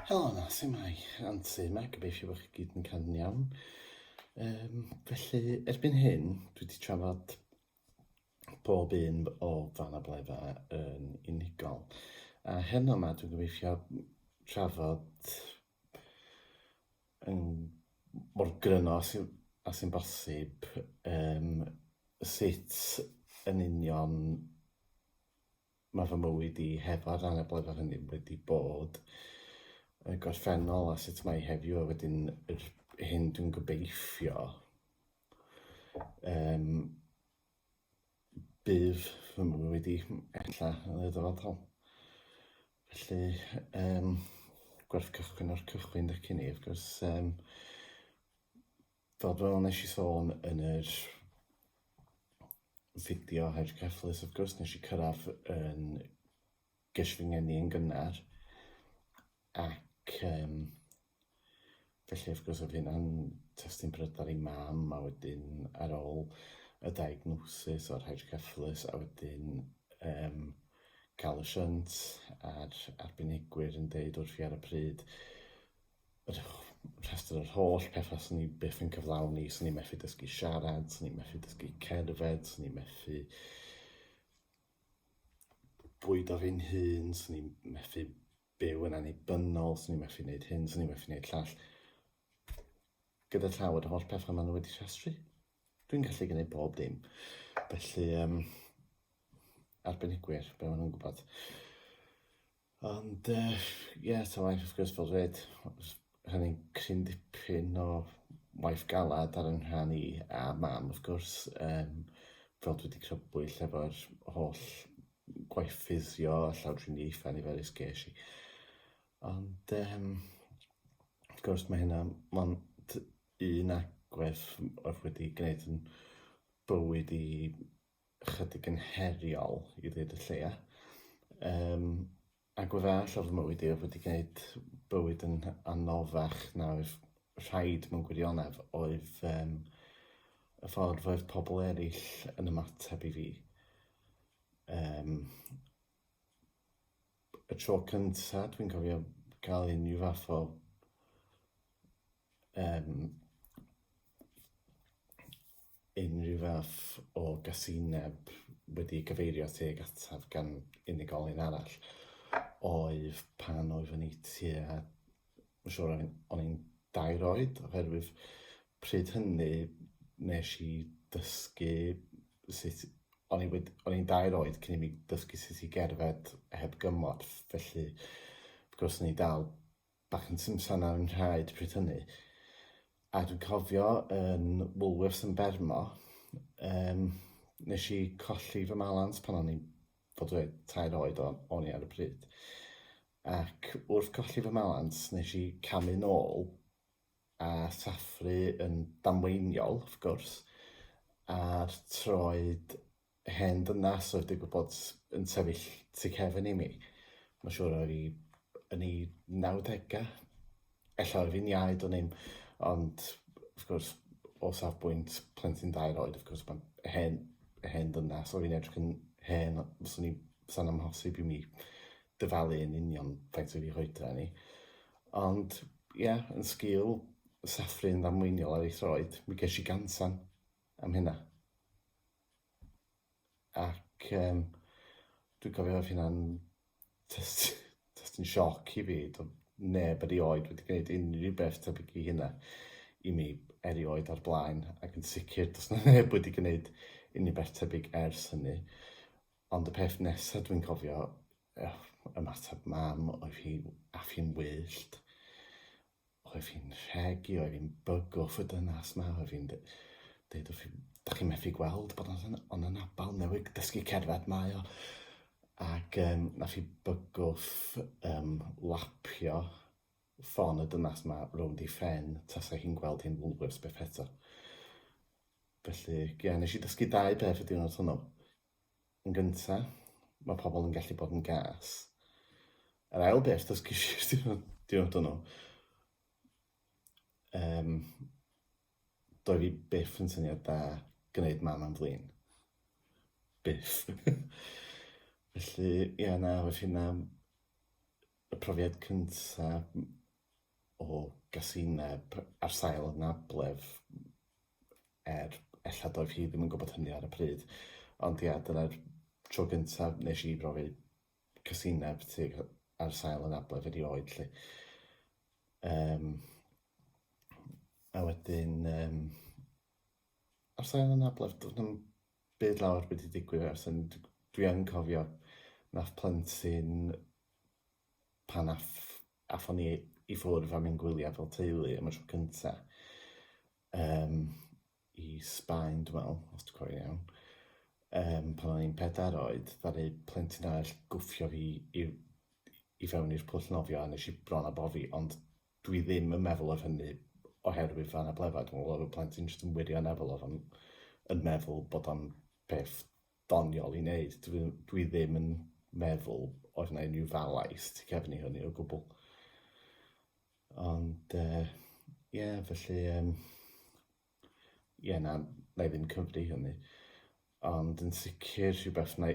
Helo yna, sy'n mai, Anti yma, gobeithio bod chi gyd yn cael yn iawn. Um, felly, erbyn hyn, dwi wedi trafod bob un o fan abledda yn unigol. A heno yma, dwi'n gobeithio trafod yn mor gryno a sy'n sy bosib um, sut yn union Mae fy mywyd i heb a'r anableddau hynny wedi bod y gorffennol a sut mae heddiw a wedyn yr hyn dwi'n gobeithio um, bydd fy mywyd i ella yn y dyfodol. Felly, um, gwerth cychwyn o'r cychwyn dych chi'n ei, wrth gwrs, um, Fel fel nes i sôn yn yr fideo hydrocephalus, wrth gwrs nes i cyrraedd yn gysh fy ngeni yn gynnar, ac um, felly wrth gwrs oedd hynna'n testyn brydar i mam, a wedyn ar ôl y diagnosis o'r hydrocephalus, a wedyn um, cael y shunt a'r arbenigwyr yn deud wrth i ar y pryd rhestr yr holl pethau sy'n ni byth yn cyflawni, sy'n ni methu dysgu siarad, sy'n ni methu dysgu cerdded, sy'n ni methu bwyd o fi'n hun, sy'n ni methu byw yn annibynnol, sy'n ni methu wneud hyn, sy'n ni methu wneud llall. Gyda llaw yr holl pethau maen nhw wedi rhestru. Dwi'n gallu gwneud bob dim. Felly, um, arbenigwyr, be maen nhw'n gwybod. Ond yy ie ta waeth wrth gwrs fel dwed rhannu'n cryn dipyn o waith galad ar 'y nghân i a mam wrth gwrs yym fel dwi 'di crybwyll efo'r holl gwaith ffisio a llawdriniaethau niferus ges i. Ond yym wrth gwrs mae hynna mond un agwedd oedd wedi gwneud yn bywyd i chydig yn heriol i ddweud y lleia. Um, ac o'r arall o'r mywyd i, wedi gwneud bywyd yn anoddach na oedd rhaid mewn gwirionedd oedd um, y ffordd oedd pobl eraill yn ymateb i fi. Um, y tro cyntaf dwi'n cofio cael unrhyw fath o um, unrhyw fath o gasineb wedi cyfeirio teg ataf gan unigolyn arall oedd pan oedd yn ei tua Mae'n siŵr o'n i'n o'n i'n dair oed oherwydd pryd hynny nes i dysgu sut... O'n i wed- o'n i'n dair oed cyn i mi dysgu sut i gerdded heb gymorth felly wrth gwrs o'n i dal bach yn simsan ar 'y nhraed pryd hynny a dwi'n cofio yn Woolworths yn Bermo yym nes i colli fy malans pan o'n i'n fod reit tair oed o- o'n i ar y pryd. Ac wrth colli fy mhalans nes i camu nôl a sathru yn damweiniol, wrth gwrs, a'r troed hen ddynas oedd digwydd bod yn sefyll tu cefn i mi. Mae'n siŵr oedd hi yn ei nawdegau. Ella yr un iau, dwn i'm, ond wrth gwrs, o safbwynt plentyn dair oed, wrth gwrs, mae'n hen, hen ddynas, o fi'n edrych yn hen, fyswn i, fysa'n amhosib i mi dyfalu yn union faint oedd ei hoedra ni. Ond, ie, yeah, yn sgil saffru yn ddamweiniol ar ei throed, mi ges i gansan am hynna. Ac um, dwi'n cofio oedd hynna'n just, just yn sioc i fi. Doedd neb erioed wedi gwneud unrhyw beth tebyg i hynna i mi erioed o'r blaen. Ac yn sicr, does na neb wedi gwneud unrhyw beth tebyg ers hynny. Ond y peth nesaf dwi'n cofio, uh, ymateb mam oedd hi, af hi'n wyllt. Oedd hi'n rhegi, oedd hi'n bygwth y dynas 'ma, oedd hi'n d- deud wrth i fi, 'dach chi'n methu gweld bod o'n yn- o'n anabal, newydd dysgu cerdded mae o. Ac yym nath 'i bygwth yym lapio ffon y dynas 'ma rownd 'i phen tasa hi'n gweld hi'n Woolworths byth eto. Felly, ie, nes i dysgu dau beth y diwrnod hwnnw. Yn gynta, mae pobl yn gallu bod yn gas. Yr ail beth, does ges i'r diwrnod, diwrnod hwnnw, um, doedd fi byth yn syniad da gwneud mam am flin. Byth. Felly, ia, na, felly hynna y profiad cynta o gasineb ar sail y nablef er ella doedd hi ddim yn gwybod hynny ar y pryd. Ond ia, dyna'r tro gyntaf nes i brofi casineb tuag ar sail anabledd erioed 'lly. Yym, a wedyn yym ar sail anabledd doedd na'm byd lawr wedi digwydd ers hynny. Dwi yn cofio nath plentyn pan ath- athon ni i ffwrdd a mynd gwyliau fel teulu am y tro cynta yym i Sbaen dwi me'wl os dwi cofio'n iawn yym pan o'n i'n pedair oed ddaru plentyn arall gwffio fi i i fewn i'r pwll nofio a nes i bron a bofi ond dwi ddim yn meddwl odd hynny oherwydd fy anabledd dwi me'wl odd y plentyn jyst yn wirioneddol odd o'n yn meddwl bod o'n peth doniol i wneud. Dwi, dwi ddim yn meddwl oedd yna unrhyw falaist tu cefn i hynny o gwbl. Ond, ie, uh, yeah, felly, um, ie, yeah, na, na i ddim cyfri hynny. Ond yn sicr rhywbeth na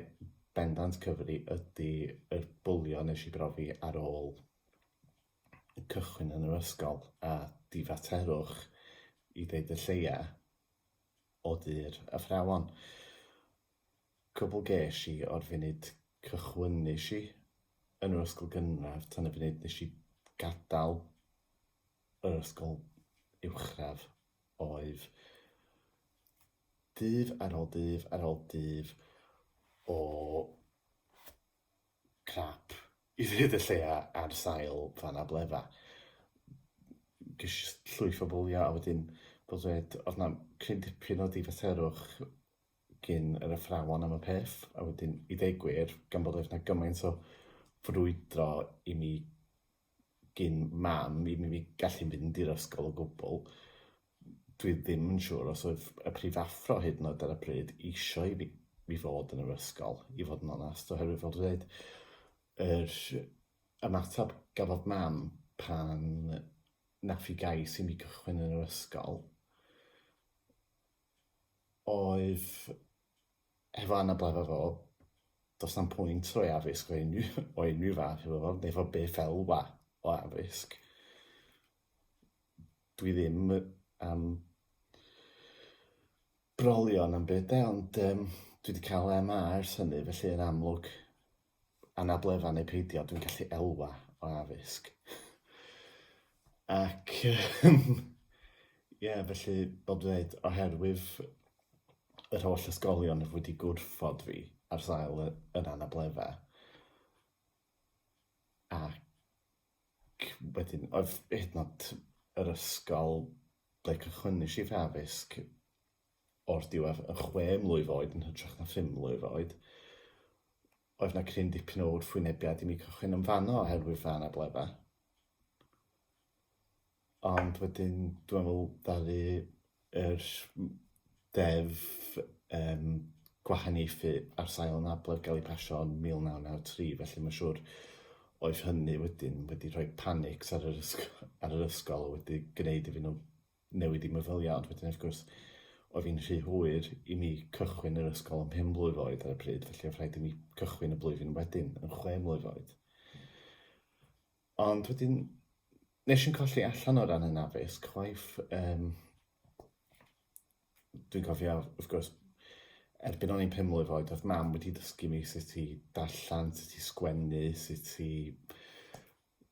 bendant cyfri ydy y bwlio nes i brofi ar ôl cychwyn yn yr ysgol a difaterwch i ddeud y lleia o dir athrawon. Cwbl gesh i o'r funud cychwynnush i yn yr ysgol gynradd tan y funud nes i gadal yr ysgol uwchradd oedd dydd ar ol dydd ar ol dydd o crap i ddweud y lleia ar sail anabledd. Ges i jyst llwyth o fwliau a wedyn fel dweud oedd 'na cryn dipyn o ddifaterwch gin yr athrawon am y peth a wedyn i ddweud gwir gan bod oedd 'na gymaint o frwydro i mi gin mam i mi gallu fynd i'r ysgol o gwbl. Dwi ddim yn siŵr os oedd y prif athro hyd yn oed ar y pryd eisiau i fi, fi fod yn yr ysgol, i fod yn onest, oherwydd fel dwi'n dweud, yr ymateb gafodd mam pan nath i gais i mi gychwyn yn yr ysgol oedd hefo anabledda fo, does na'm pwynt rhoi addysg o unrhyw, o unrhyw fath iddo fo, neu fo beth elwa o addysg. Dwi ddim am brolion am byd de, ond um, dwi wedi cael MA ers hynny, felly yn amlwg anabledda neu peidio, dwi'n gallu elwa o addysg. Ac, ie, yeah, felly, fel dwi'n dweud, oherwydd yr holl ysgolion oedd wedi gwrthod fi ar sail y, yr anabledda. Ac wedyn, oedd hyd yn yr ysgol ble cychwynnu si fy addysg o'r diwedd yn chwe mlwydd oed yn hytrach na phum mlwydd oed. Oedd na cryn dipyn o wrthwynebiad i mi cychwyn yn fanno oherwydd fy anabledda. Ond wedyn, dwi'n meddwl, ddaru yr deddf um, gwahaniaethu ar sail anabledd gael ei pasio yn 1993, felly mae'n siŵr oedd hynny wedyn wedi rhoi panics ar yr ysgol, ar yr ysgol wedi gwneud iddyn nhw newid i meddyliau, ond wedyn wrth gwrs oedd hi'n rhy hwyr i mi cychwyn yr ysgol ym mhen blwydd oed ar y pryd, felly oedd rhaid i mi cychwyn y blwyddyn wedyn yn chwe mlwydd oed. Ond wedyn, nes i'n colli allan o ran yn addysg, chwaith, um, dwi'n cofio, wrth gwrs, erbyn o'n i'n pum mlwydd oed, oedd mam wedi dysgu mi sut i darllen, sut i sgwennu, sut i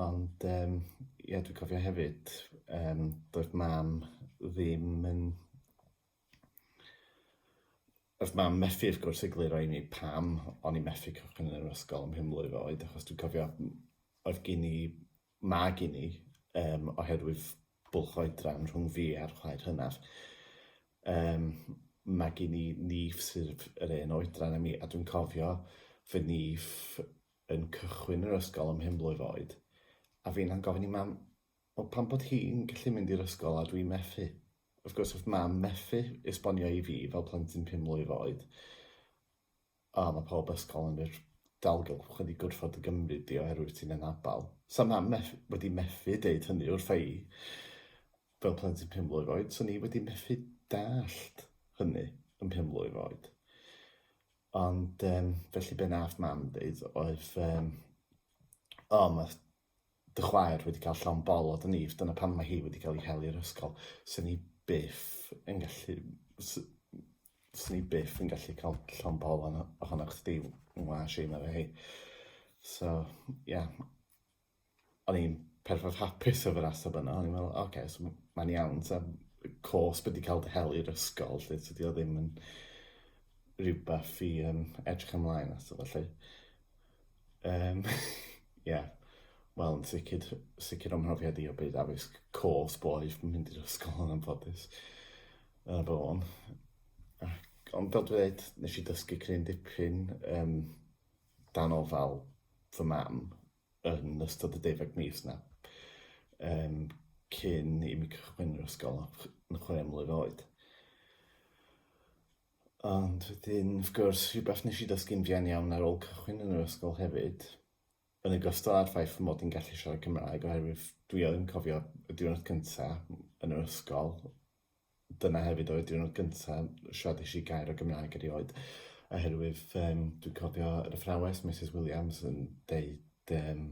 Ond yym ie dwi'n cofio hefyd yym doedd mam ddim yn... Doedd mam methu wrth gwrs egluro i mi pam o'n i'n methu cychwyn yn yr ysgol ym mhenblwydd oed achos dwi'n cofio oedd gin i... ma' gin i yym oherwydd bwlch oedran rhwng fi a'r chwaer hynaf yym ma' gin i nîff sydd yr un oedran â mi a dwi'n cofio fy nîff yn cychwyn yr ysgol ym mhen blwydd oed, a finna'n gofyn i mam, wel pam bod hi'n gallu mynd i'r ysgol a dwi'n methu? Wrth gwrs wrth mam methu esbonio i fi fel plentyn pum mlwydd oed, o mae pob ysgol yn yr dalgylch wedi gwrthod y gymryd di oherwydd ti'n anabal. Sa mam meth wedi methu deud hynny wrtha i fel plentyn pum mlwydd oed, so ni wedi methu dallt hynny yn pum mlwydd oed. Ond um, felly be nath mam ddeud oedd, um, o, oh, mae dy chwaer wedi cael llon bol o dy nif, dyna pan mae hi wedi cael ei hel i'r ysgol. Swn i byth yn gallu... Swn i byth yn gallu cael llon bol ohonoch chdi, ngwa, Shane, efo hi. So, ie. Yeah. o'n i'n perffaith hapus efo'r ateb yna. O'n i'n meddwl, oce, okay, so mae'n iawn. Ta, cos beth di cael dy hel i'r ysgol, lle ti di o ddim yn rhywbeth i um, edrych ymlaen ato, felly. Um, yeah. Wel, yn sicr, sicr o'm mhrofiad i o byd addysg cos boeth yn mynd i'r ysgol yn anffodus. Yna bod o'n. Ac, ond fel dweud, nes i dysgu cryn dipyn, um, dan ofal fy mam yn ystod y deuddeg mis 'na, yym, cyn i mi cychwyn yr ysgol yn chwe mlwydd oed. Ond wedyn, wrth gwrs, rhywbeth nes i ddysgu'n fuan iawn ar ôl cychwyn yn yr ysgol hefyd, yn ogystal â'r ffaith fy mod i'n gallu siarad Cymraeg, oherwydd dwi yn cofio y diwrnod cynta yn yr ysgol, dyna hefyd oedd diwrnod gyntaf siaradais i gair o Gymraeg erioed oherwydd um, dwi'n cofio yr athrawes Mrs Williams yn deud um,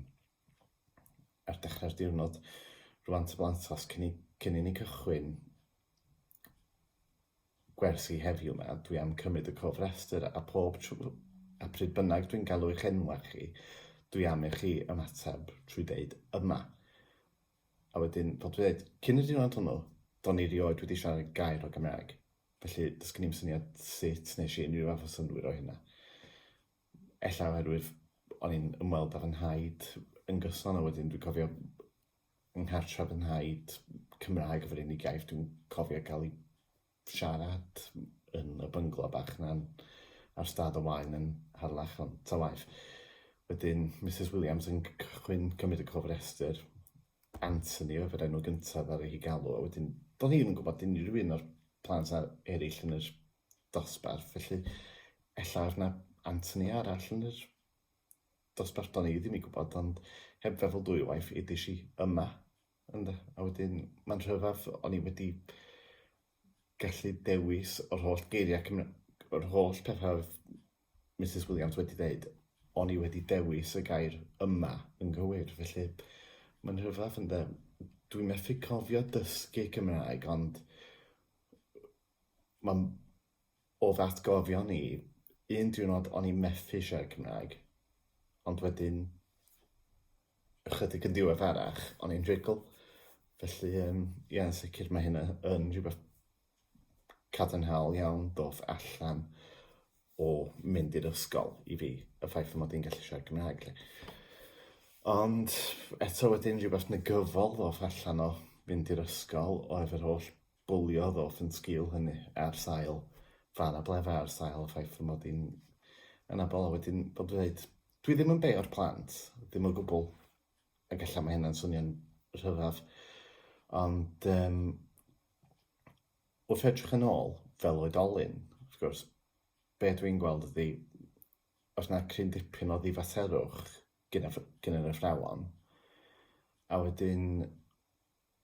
ar dechrau'r diwrnod rwan ty blant os cyn i, cyn i ni cychwyn gwersi heddiw yma dwi am cymryd y cofrestr a pob trwy a pryd bynnag dwi'n galw eich enwa chi dwi am i chi ymateb trwy deud yma A wedyn, fel dwi'n dweud, cyn y diwrnod hwnnw, do'n i rioed wedi siarad gair o Gymraeg. Felly, does gen i'm syniad sut nes i unrhyw fath o synnwyr o hynna. Ella oherwydd o'n i'n ymweld â fy nhaid yn gyson, a wedyn dwi'n cofio yng nghartref fy nhaid, Cymraeg oedd yr unig iaith dwi'n cofio cael ei siarad yn y bynglo bach na'n ar stad o waen yn Harlech ond ta waeth. Wedyn Misus Williams yn cychwyn cymryd y cofrestr, Anthony oedd yr enw gyntaf ar ei galw a wedyn do'n i ddim yn gwybod unrhyw un o'r plant ar eraill yn yr dosbarth felly ella oedd 'na Anthony arall yn yr dosbarth do'n i ddim yn gwybod ond heb feddwl dwywaith edes i yma. Ond, a wedyn, mae'n rhyfedd, o'n i wedi gallu dewis yr holl geiriau Cymra-, yr holl pethau oedd Misus Williams wedi dweud, o'n i wedi dewis y gair 'yma' yn gywir, felly mae'n rhyfedd, ynde. Dwi methu cofio dysgu Cymraeg, ond mae'n O'dd atgofion i, un diwrnod o'n i methu siarad Cymraeg, ond wedyn ychydig yn ddiweddarach o'n i'n rhugl, felly yym ie yn sicr mae hynna yn rhywbeth cadarnhaol iawn doth allan o mynd i'r ysgol i fi, y ffaith fy mod i'n gallu siarad Cymraeg 'lly. Ond eto wedyn rhywbeth negyddol ddoth allan o fynd i'r ysgol oedd yr holl bwlio ddoth yn sgil hynny, ar sail fân a blefa, ar sail y ffaith fy mod i'n anabl, a wedyn bod fi'n dweud, dwi ddim yn beio'r plant, ddim o gwbl, ac ella mae hynna'n swnio'n rhyfedd, ond um, wrth edrych yn ôl, fel oedolyn, wrth gwrs, be dwi'n gweld ydy, os na cryn dipyn o ddifaterwch gyda, gyda'r athrawon, a wedyn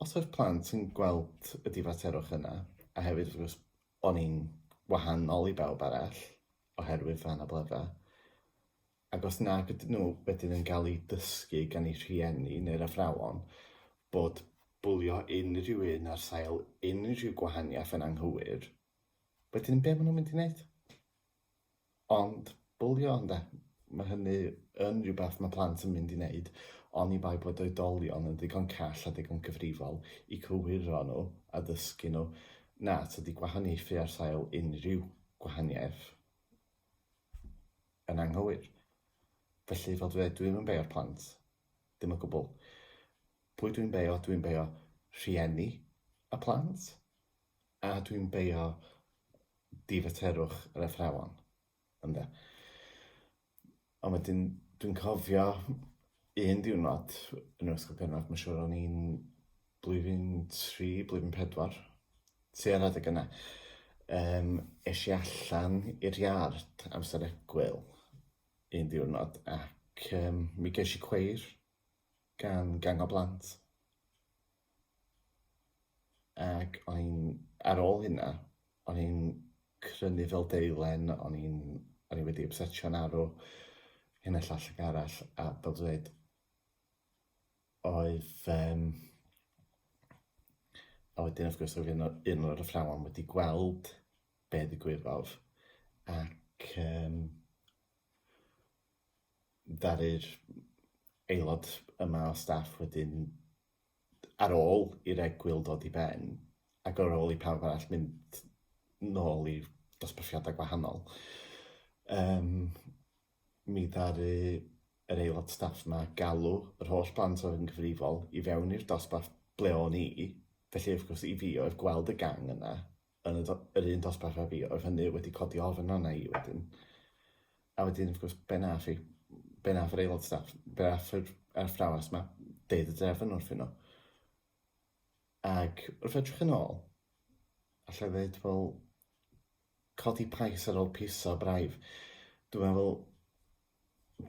Os oedd plant yn gweld y difaterwch yna, a hefyd wrth gwrs o'n i'n wahanol i bawb arall oherwydd fy anabledda, ac os nag ydyn nhw wedyn yn cael eu dysgu gan eu rhieni neu'r athrawon bod bwlio unrhyw un ar sail unrhyw gwahaniaeth yn anghywir, wedyn be maen nhw'n mynd i wneud? Ond bwlio ynde? Mae hynny yn rhywbeth mae plant yn mynd i wneud oni bai bod oedolion yn ddigon call a digon cyfrifol i cywiro nhw a dysgu nhw na tydi gwahaniaethu ar sail unrhyw gwahaniaeth yn anghywir. Felly, fel dwi dweud, dwi'm yn beio'r plant, ddim o gwbl. Pwy dwi'n beio? Dwi'n beio rhieni y plant a dwi'n beio difaterwch yr athrawon, ynde. Ond wedyn, dwi'n cofio un diwrnod yn yr ysgol gynradd, mae'n siŵr o'n i'n blwyddyn tri, blwyddyn pedwar, tua'r adeg yna, um, eisiau i allan i'r iard amser egwyl un diwrnod ac um, mi geis i cweir gan gang o blant. Ac o'n i'n... ar ôl hynna, o'n i'n crynu fel deilen, o'n i'n... o'n i wedi ypsetio'n arw, hyn a llall ac arall, a fel dwi'n dweud, oedd yym... A wedyn wrth gwrs oedd un o- un o'r athrawon wedi gweld be' ddigwyddodd ac yym... ddaru'r aelod yma o staff wedyn, ar ôl i'r egwyl ddod i ben, ac ar ôl i pawb arall mynd nôl i dosbarthiadau gwahanol, um, mi ddaru yr aelod staff yma galw yr holl blant oedd yn gyfrifol i fewn i'r dosbarth ble o'n i, felly wrth gwrs i fi oedd gweld y gang yna, yn y, yr un dosbarth a fi, oedd hynny wedi codi ofn arna i wedyn. A wedyn, wrth gwrs, be nath i? Be nath yr aelod staff? Be nath yr athrawes ma? Deud y drefn wrthyn nhw. Ac wrth edrych yn ôl, allai ddweud, wel, codi pais ar ôl piso braidd. Dwi'n meddwl,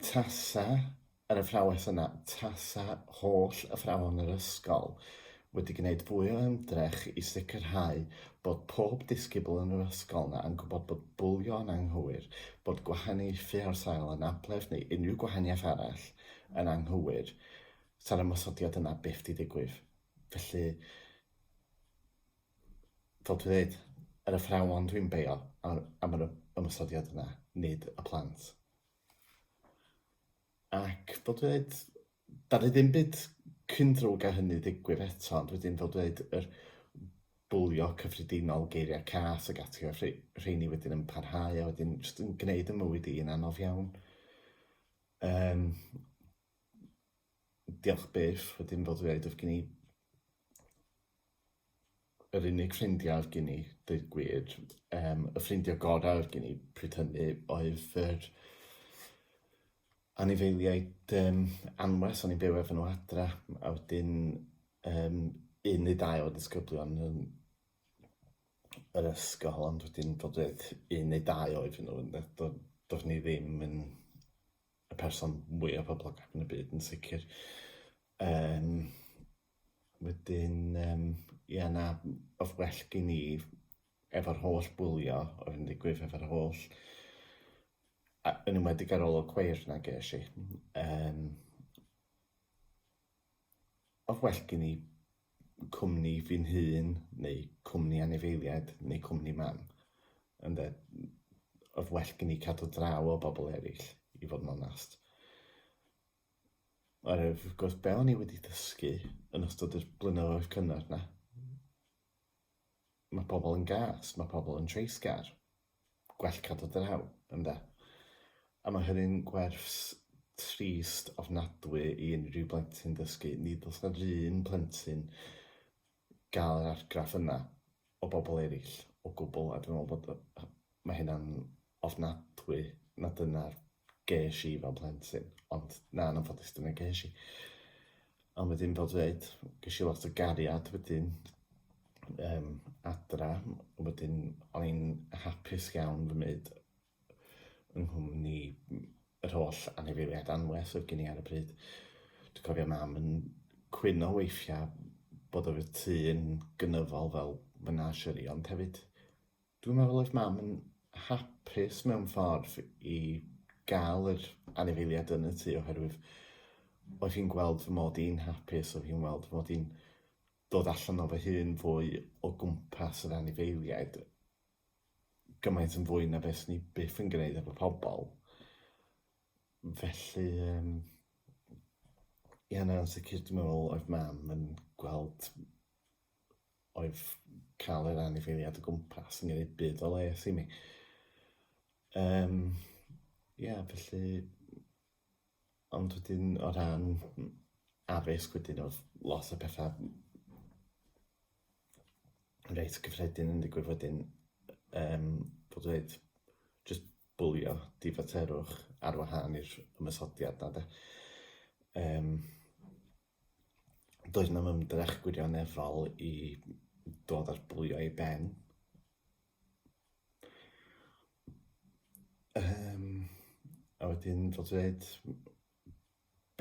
Tasa yr athrawes yna, tasa holl athrawon yr ysgol wedi gwneud fwy o ymdrech i sicrhau bod pob disgybl yn yr ysgol yna yn gwybod bod bwlio yn anghywir, bod gwahaniaethu ar sail anabledd neu unrhyw gwahaniaeth arall yn anghywir, 'sa'r ymosodiad yna byth 'di digwydd. Felly, fel dwi'n dweud, yr athrawon dwi'n beio am, am yr ymosodiad yna, nid y plant. Ac fel dwi'n dweud, da ni ddim byd cyn drwg a hynny ddigwydd eto, ond wedyn fel dwi'n dweud, yr bwlio cyffredinol, geiriau cas ac ati, a rheini wedyn yn parhau, a wedyn jyst yn gwneud y mywyd i'n anodd iawn. Um, diolch byth, wedyn fel dwi'n dweud, oedd gen i yr unig ffrindiau oedd gen i, dweud gwir. Um, y ffrindiau gorau oedd gen i pryd hynny oedd yr anifeiliaid um, anwes, o'n i'n byw efo nhw adra, a wedyn um, un neu dau o ddisgyblion yn yr ysgol, ond wedyn dod dweud un neu dau oedd nhw, doedd do, ni ddim yn y person mwyaf poblogaidd yn y byd yn sicr. Um, wedyn, um, ia na, oedd well gen i efo'r holl bwlio oedd yn digwydd efo'r holl a, yn ymwedig ar ôl o cweir na ges i. Um, oedd well gen i cwmni fi'n hun, neu cwmni anifeiliaid, neu cwmni mam. Ond e, oedd well gen i cadw draw o bobl eraill, i fod yn onast. Oherwydd, wrth gwrs, be o'n i wedi dysgu yn ystod yr blynyddoedd cynnar 'na, mae pobl yn gas, mae pobl yn treisgar, gwell cadw draw, ynde? A mae hynny'n gwerth trist ofnadwy i unrhyw blentyn dysgu. Nid oes 'na'r un plentyn gael yr argraff yna o bobl eraill o gwbl, a dwi'n meddwl bod y... mae hynna'n ofnadwy na dyna'r ges i fel plentyn, ond na, yn anffodus dyna ges i. Ond wedyn fel dwi'n dweud, ges i lot o gariad wedyn um, adra, wedyn o'n i'n hapus iawn fy myd yng nghwmni yr holl anifeiliaid anwes oedd gen i ar y pryd. Dwi'n cofio mam yn cwyno weithiau bod yr tŷ yn gynyddol fel menagerie, ond hefyd dwi'n meddwl oedd mam yn hapus mewn ffordd i gael yr anifeiliaid yn y tŷ oherwydd oedd hi'n gweld fy mod i'n hapus, oedd hi'n weld fy mod i'n dod allan o fy hun fwy o gwmpas yr anifeiliaid. gymaint yn fwy na beth ni byth yn gwneud efo pobl. Felly, um, ie, na, yn sicr, dwi'n meddwl, oedd mam yn gweld oedd cael yr anifeiliad o gwmpas yn gwneud byd o les i mi. Um, yeah, felly, Ond wedyn o ran m- addysg wedyn odd lot o petha m- reit gyffredin yn digwydd wedyn yym bod o ddeud jyst bwlio difaterwch ar wahân i'r ymosodiad 'na 'de yym doedd 'na'm ymdrech gwirioneddol i dod â'r bwlio i ben. Yym, a wedyn fel dwi ddeud,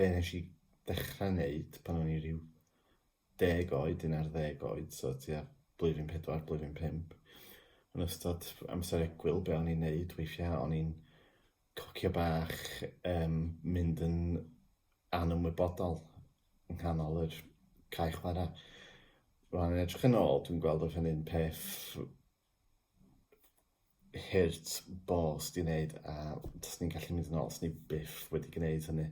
be wnes i ddechrau wneud pan o'n i ryw deg oed, un ar ddeg oed, so tua blwyddyn pedwar, blwyddyn pump, yn ystod amser egwyl, be o'n i'n wneud weithiau, o'n i'n cocio bach yn mynd yn anymwybodol yng nghanol yr cae chwarae. Rwan yn edrych yn ôl, dwi'n gweld oedd hynny'n peth hurt bos di wneud a os ni'n gallu mynd yn ôl, os ni byth wedi gwneud hynny.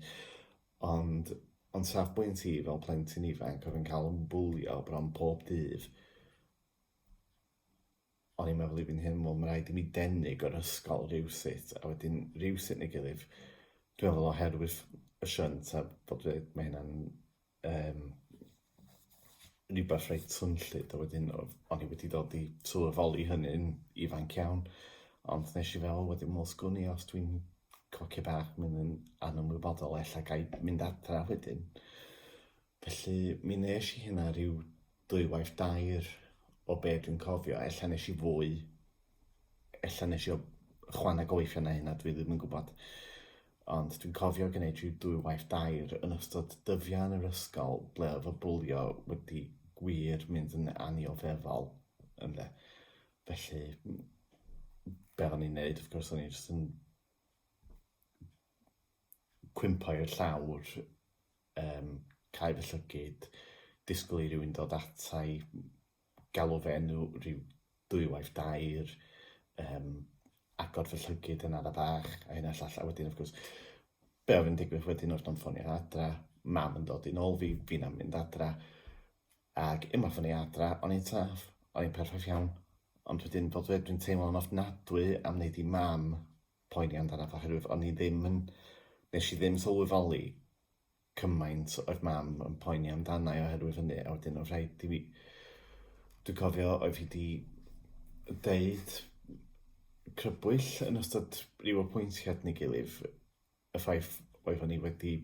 Ond ond safbwynt i fel plentyn ifanc oedd yn cael yn bwlio bron pob dydd, O'n i'n meddwl i fi'n hun, wel, mae'n rhaid i mi denu gyda'r ysgol rhywsut, a wedyn rhywsut neu gilydd, dwi'n meddwl oherwydd y shunt a bod fi, mae hynna'n um, rhywbeth reit swnllyd, a wedyn o'n i wedi dod i sylweddoli hynny'n ifanc iawn, ond nes i fel wedyn, wel, sgwn i os dwi'n cocio bach, mynd yn anymwybodol, ella gaib mynd adra wedyn. Felly mi nes i hynna rhyw ddwywaith dair o be dwi'n cofio. Ella nes i fwy, ella nes i o chwaneg o weithio na hynna, dwi ddim yn gwybod. Ond dwi'n cofio gwneud rhyw ddwywaith dair yn ystod dyddiau yn yr ysgol ble oedd y bwlio wedi gwir mynd yn anioddefol ynde. Felly be o'n i'n neud wrth gwrs o'n i jyst yn cwympo i'r llawr Yym, cau fy llygid, disgwyl i rywun ddod ata i, galw fy enw ryw ddwywaith dair, yym, agor fy llygid yn ara' bach, a hyn a'r llall, a wedyn wrth gwrs, be' oedd yn digwydd wedyn oedd nhw'n ffonio adra, mam yn dod i nôl fi, fi'n am mynd adra, ac unwaith o'n i adra, o'n i'n saff, o'n i'n perffaith iawn, ond wedyn fel dwi dweud dwi'n teimlo'n ofnadwy am wneud i mam poeni amdanaf oherwydd o'n i ddim yn... Nes i ddim sylweddoli cymaint oedd mam yn poeni amdana i oherwydd hynny a wedyn oedd rhaid i fi... Dwi'n cofio oedd hi 'di deud crybwyll yn ystod ryw apwyntiad neu gilydd y ffaith oeddwn i wedi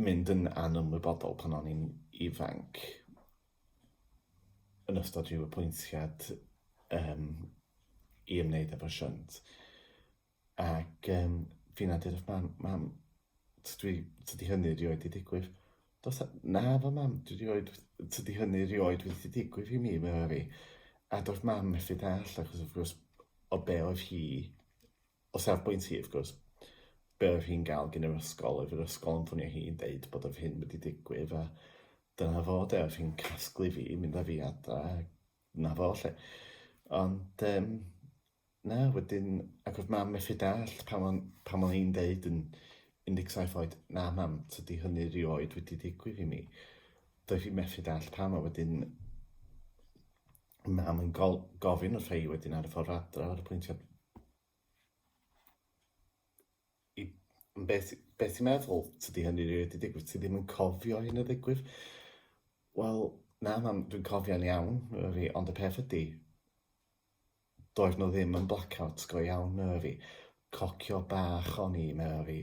mynd yn anymwybodol pan o'n i'n ifanc. yn ystod rhyw apwyntiad um, i ymwneud efo shunt. Ac um, fi na dydych mam, mam, dwi, tydi hynny rioed i digwydd. Dos, na fo mam, dwi rioed, tydi hynny rioed wedi digwydd i mi, meddwl fi. A doedd mam methu dall, achos wrth gwrs, o be oedd hi O safbwynt hi, wrth gwrs, be oedd hi'n gael gyn yr ysgol, oedd yr ysgol yn ffonio hi yn deud bod yr hyn wedi digwydd, a dyna fo, de, oedd hi'n casglu fi, mynd â fi adra, na fo, lle. Ond, um, na, wedyn, ac oedd mam methu dall pan o'n, pan o'n i'n deud yn 17 oed, na mam, tydi hynny rioed wedi digwydd i mi. Doedd hi methu dall pam, a wedyn, Na, mae'n gol- gofyn y rhai wedyn ar y ffordd adra ar y pwyntiau. I, beth, beth ti'n meddwl? Tydi hynny rili wedi digwydd? Ti ddim yn cofio hyn y ddigwydd? Wel, na, mam, dwi'n cofio'n iawn, yr i, ond y peth ydy, doedd nhw ddim yn blackouts go iawn, yr i. Cocio bach o'n i, yr i,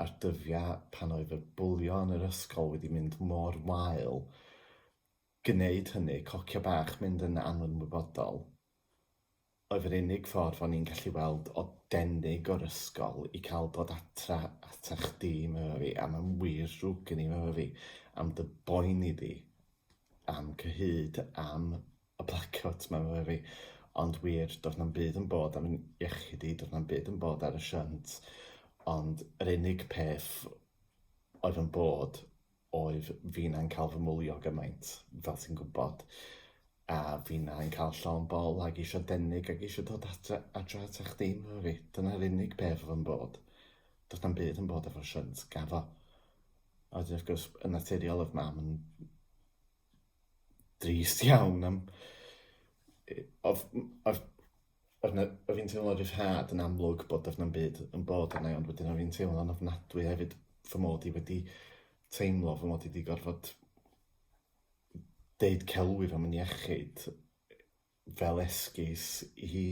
a'r dyddiau pan oedd y bwlio yn yr ysgol wedi mynd mor wael, gwneud hynny, cocio bach, mynd yn anwybodol, oedd yr unig ffordd o'n i'n gallu weld o denig o'r ysgol i cael dod atra ata chdi myfyfi, a mae'n wir ddrwg gen i myfyfi, am dy boeni di am cyhyd am y blacowt ma myfyfi, ond wir, doedd na'm byd yn bod am iechyd i, doedd na'm byd yn bod ar y shunt, ond yr unig peth oedd yn bod oedd finna'n cael fy mwlio gymaint, fel ti'n gwybod, a finna'n cael llawn bol ac eisiau denig ac eisiau dod adre, adre at eich dim efo fi. Dyna'r unig beth oedd yn bod. Doedd na'm byd yn bod efo shunt, gafo. A wedyn, wrth gwrs, yn naturiol oedd mam yn drist iawn am... Oedd, oedd Oedd 'na... oedd hi'n teimlo ryddhad yn amlwg bod doedd na'm byd yn bod arna i ond wedyn oedd hi'n teimlo'n ofnadwy hefyd fy mod i wedi teimlo fy mod i wedi gorfod deud celwydd am yn iechyd fel esgus i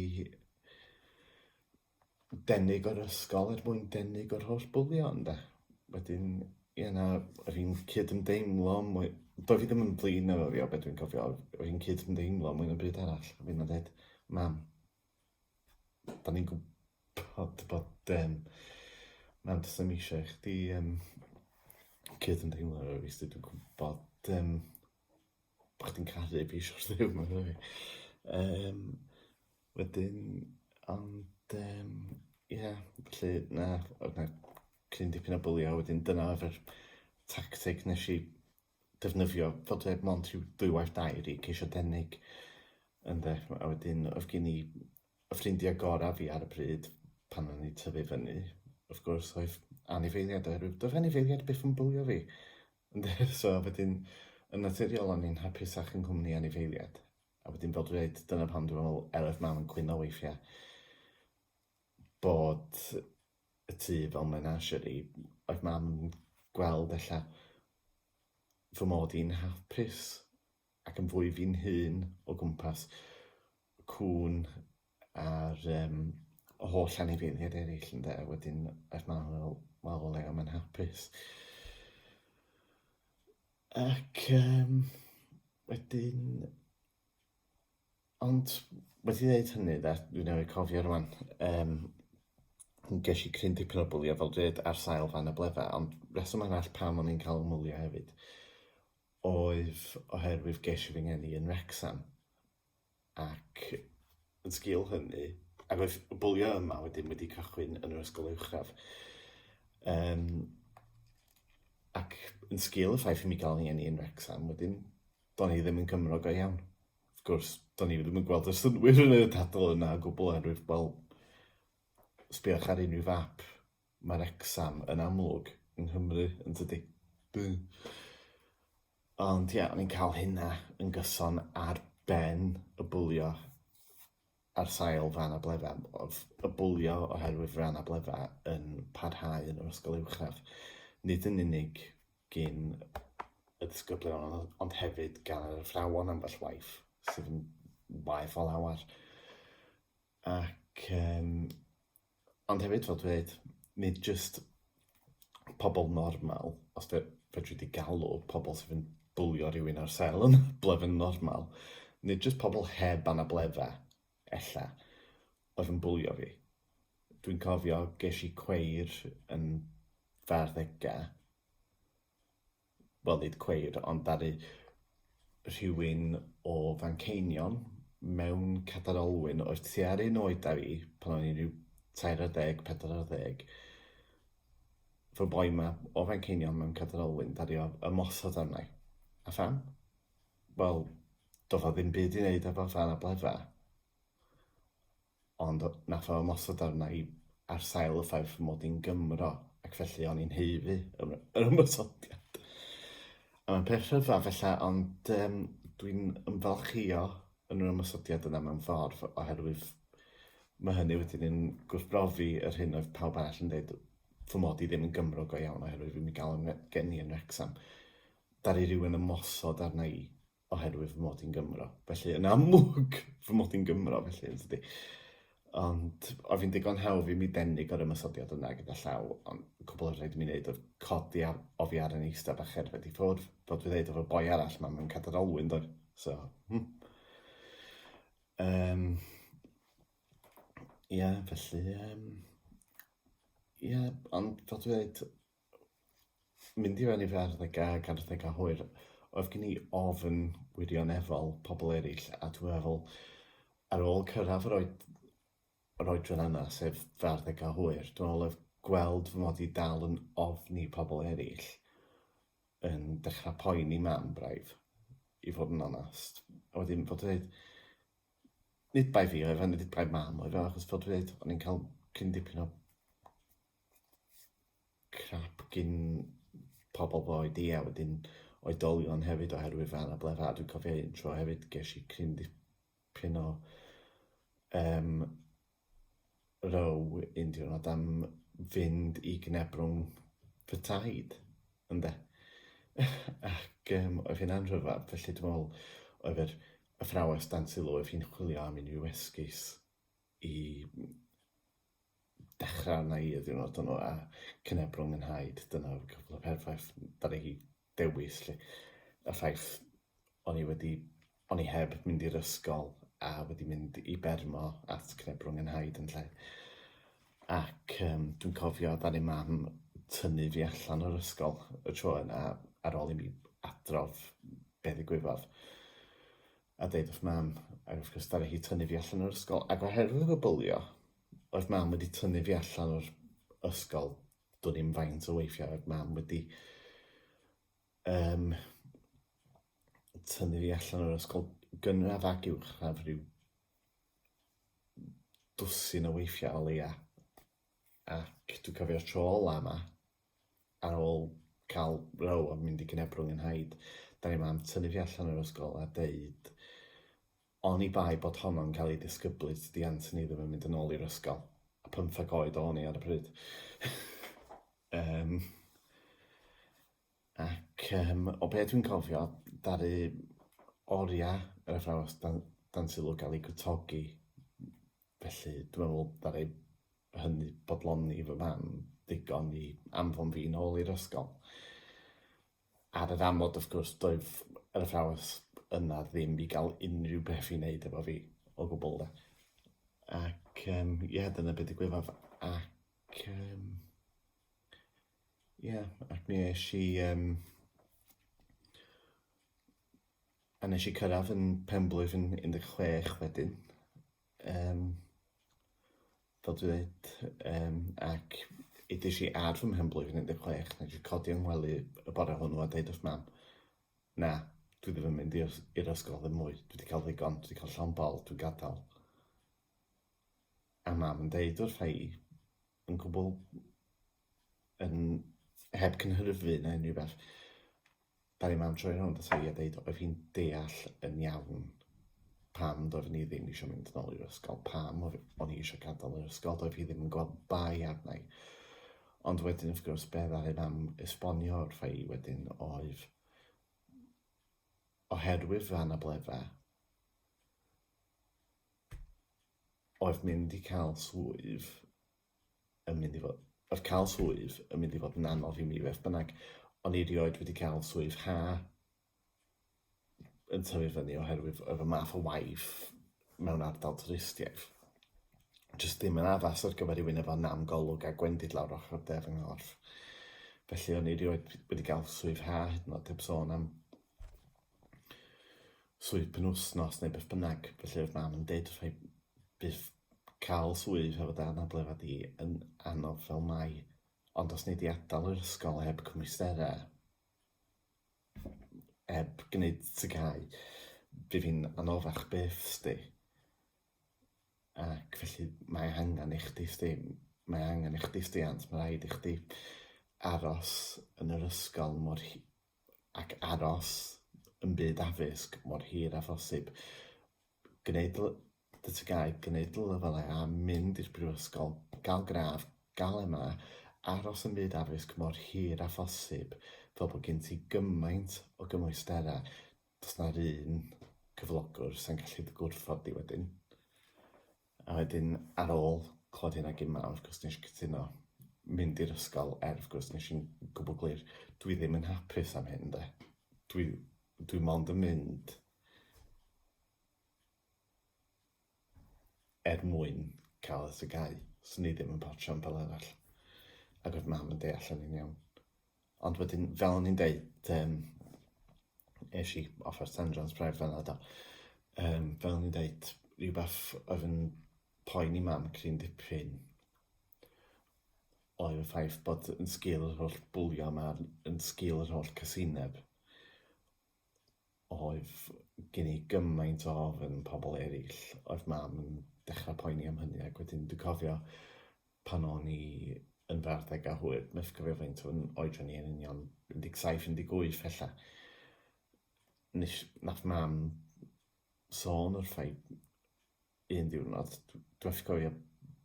denig o'r ysgol er mwyn denig o'r holl bwlio ynde? Wedyn ie na yr un cydymdeimlo mwy... Doedd hi ddim yn flin efo fi o be dwi'n cofio, yr un cydymdeimlo mwy na byd arall efo fi na deud mam 'dan ni'n gwbod bod yym mam does na'm isio i chdi yym cydymdeimlo efo fi 'chos dwi 'di gwbod yym bo' chdi'n caru fi so't of thing on'd yfe? Yym wedyn ond yym ia felly na odd 'na cyn dipyn o bwlio a wedyn dyna odd yr tacteg nesh i defnyddio t'od er mond rhyw dwywaith dair i ceisio denig ynde a wedyn odd gin i y ffrindia gora fi ar y pryd pan o'n i'n tyfu fyny wrth gwrs oedd anifeiliaid oherwydd do'dd anifeiliaid byth yn bwlio fi Yndi, so wedyn yn naturiol o'n i'n hapusach yng nghwmni anifeiliaid. A wedyn fel dwi'n dweud, dyna pam dwi'n meddwl, er oedd mam yn cwyno weithiau, bod y tŷ fel menagerie, oedd mam yn gweld ella fy mod i'n hapus. ac yn fwy fi'n hun o gwmpas cŵn a'r um, holl anifeiliaid eraill ynde, wedyn er ma'n fel, wel o leia mae'n hapus. Ac um, wedyn, ond wedi dweud hynny, da, dwi'n ei cofio rwan, um, ges i cryn dipyn o bwlio fel dweud ar sail fan y bledda, ond reswm arall pam o'n i'n cael ymwylio hefyd oedd oherwydd ges i fy ngeni yn Wrecsam ac yn sgil hynny, ac oedd y bwlio yma wedyn wedi cychwyn yn yr ysgol uwchradd, um, ac yn sgil y ffaith i mi gael fy ngeni yn Wrecsam wedyn, do'n i ddim yn Cymro go iawn. Wrth gwrs, do'n i ddim yn gweld y synwyr yn y dadl yna o gwbl oherwydd, wel, sbïwch ar unrhyw fap Mae Wrecsam yn amlwg yng Nghymru, yn tydi? Ond ia, ni'n cael hynna yn gyson ar ben y bwlio ar sail fân a blefa. Oedd y bwlio oherwydd fân a blefa yn parhau yn yr ysgol uwchradd, nid yn unig gin y disgyblion ond hefyd gan yr athrawon ambell waith, sydd yn waeth o lawer. Ac yym, ond hefyd fel dweud, nid jyst pobl normal, os fe- fedri di galw pobl sydd yn bwlio rhywun ar sel yn blyf yn normal, nid jyst pobl heb anabledda, ella, oedd yn bwlio fi. Dwi'n cofio ges i cweir yn fy arddegau, wel nid cweir, ond ddaru rhywun o Fanceinion mewn cadar olwyn oedd tua'r un oed â fi, pan o'n i'n rhyw tair ar ddeg, pedwar ar ddeg, fy boi ma o Fanceinion mewn cadar olwyn, ddaru o ymosod arna i. A pham? Wel, doedd o ddim byd i wneud efo fan a blefa. Ond na pha ymosod arna i ar sail y ffaith fy mod i'n Gymro, ac felly o'n i'n haeddu yr ymosodiad. A mae'n peth rhyfedd felly, ond um, dwi'n ymfalchio yn yr ymosodiad yna mewn ffordd, oherwydd mae hynny wedyn yn gwrthbrofi yr hyn oedd pawb arall yn dweud fy mod i ddim yn Gymro go iawn oherwydd fi'n mi gael yn gen i yn Wrexham. Daru rhywun ymosod arna i oherwydd fy mod i'n Gymro. Felly, yn amlwg, fy mod i'n Gymro, felly, yn tydi. Ond, oedd hi'n digon hawdd i mi denig o'r ymysodiad yna gyda llaw, ond cwbl oedd rhaid i mi wneud oedd codi ar, o fi ar yn eista bach erfed i ffwrdd, fod fi ddeud efo boi arall, mae mewn cadar olwyn, doedd. So, hmm. Um, Ie, yeah, felly, um, ie, yeah, ond fel dwi dweud, Mynd i fewn i fy arddega ac arddega hwyr, oedd gen i ofn wirioneddol pobl eraill, a dwi'n meddwl, ar ôl cyrraedd yr oed- yr oedran yna, sef fy arddegau hwyr, dwi'n meddwl oedd gweld fy mod i dal yn ofni pobl eraill yn dechrau poeni mam braidd, i fod yn onest. A wedyn fod yn dweud, nid bai fi oedd e, nid bai mam oedd e, achos fel dwi'n dweud, o'n i'n cael cyn dipyn o crap gin pobl fy oed i a wedyn oedolion hefyd oherwydd fy anableddau a dwi'n cofio un tro hefyd ges i cryn dipyn o um, row un diwrnod am fynd i gnebrwng fy taid ynde ac um, oedd hynna'n rhyfedd felly dwi'n meddwl oedd yr athrawes dan sylw oedd hi'n chwilio am unrhyw esgus i dechrau arna i y diwrnod hwnnw a cyneb rhwng yn haid. Dyna oedd cwpl o perffaith dan ni dewis lle. Y ffaith o'n i wedi, o'n i heb mynd i'r ysgol a wedi mynd i Bermo at cyneb rhwng yn haid yn lle. Ac um, dwi'n cofio dan i mam tynnu fi allan o'r ysgol y tro yna ar ôl i mi adrodd be ddigwyddodd. a deud wrth mam, ac wrth gwrs daru hi tynnu fi allan o'r ysgol, ac oherwydd fy bwlio, oedd mam wedi tynnu fi allan o'r ysgol, dwn i'm faint o weithiau oedd mam wedi um, tynnu fi allan o'r ysgol gynradd ac uwchradd rhyw dwsin o weithiau o leia. Ac dwi'n cofio'r tro ola yma, ar ôl cael row a mynd i Gynebwrwng yn Nhaid, dan ni mam tynnu fi allan o'r ysgol a deud oni bai bod honno'n cael ei disgyblu tydi Anthony ddim yn mynd yn ôl i'r ysgol, a pymtheg oed o'n i ar y pryd. um, ac um, o beth dwi'n cofio, daru oriau yr athrawes dan, dan sylw gael ei gwtogi Felly, dwi'n meddwl, ddaru hynny bodloni fy mam ddigon i anfon fi nôl i'r ysgol. Ar yr amod, wrth gwrs, doedd yr athrawes yna ddim i gael unrhyw beth i wneud efo fi o gwbl de. Ac um, ie, dyna beth digwyddodd. Ac um, ie, ac mi eisiau... i... Um, A nes i cyrraedd yn penblwydd yn 16 wedyn. Um, fel dwi dweud, um, ac edys i ar fy mhenblwydd yn 16, nes i codi yng ngwely y bore hwnnw a dweud wrth mam, na, dwi ddim yn mynd i'r ysgol ddim mwy, dwi wedi cael ddigon, dwi wedi cael llawn bol, dwi'n gadael. A mam yn deud wrth i yn gwbl yn heb cynhyrfu na unrhyw beth, Ddaru mam troi rownd ata i a deud oedd hi'n deall yn iawn pam doeddwn i ddim eisiau mynd yn ôl i'r ysgol, pam o'n i eisiau gadael yr ysgol, doedd hi ddim yn gweld bai arna i. Ond wedyn, wrth gwrs, be ddaru mam esbonio wrtha i wedyn oedd oherwydd fy anabledda, oedd mynd i cael swydd yn mynd i fod... oedd cael swydd yn mynd i fod yn anodd i mi beth bynnag. O'n i erioed wedi cael swydd ha yn tyfu fyny oherwydd oedd y math o waith mewn ardal twristiaeth jyst ddim yn addas ar gyfer rhywun efo nam golwg a gwendid lawr ochr de fy nghorff. Felly o'n i erioed wedi cael swydd ha hyd yn oed heb sôn am swydd penwsnos neu beth bynnag. Felly oedd mam yn deud rhai byth Cael swydd hefo dy anabledd di yn anodd fel mae, ond os nei di adal yr ysgol heb cymwysterau, heb gwneud tŷ cau, bydd hi'n anoddach byth sdi. Ac felly mae angen i chdi sdi, mae angen i chdi stiant, mae rhaid i chdi aros yn yr ysgol mor hi- ac aros yn byd addysg mor hir â phosib. gwneud dy TGAU, gwneud dy lefelau a mynd i'r brifysgol, gael gradd, gael MA, aros ym myd addysg mor hir â phosib fel bod gen ti gymaint o gymwysterau, does 'na'r un cyflogwr sa'n gallu dy gwrthod di wedyn. A wedyn ar ôl clywed hynna gyn mawr, wrth gwrs nes i cytuno mynd i'r ysgol er wrth gwrs nes i'n gwbl glir dwi ddim yn hapus am hyn de. Dwi dwi mond yn mynd er mwyn cael y tygau. So ni ddim yn portio am fel arall. Ac oedd mam yn deall yn un iawn. Ond wedyn, fel o'n i'n deud, um, eisiau i offer Sandrans bref fel yna. Um, fel o'n i'n deud, rhywbeth oedd yn poen i mam cryn dipyn oedd y ffaith bod yn sgil yr holl bwlio yma, yn sgil yr holl casineb, Oedd gen i gymaint o ofn am pobl eraill. Oedd Mam yn dechrau poeni am hynny ac wedyn dwi'n cofio pan o'n i yn fy arddegau hwyr, methu cofio faint o'n oedran i yn union, 17, 18 ella, nes... wnaeth Mam sôn wrtha i un diwrnod, dw- dwi methu cofio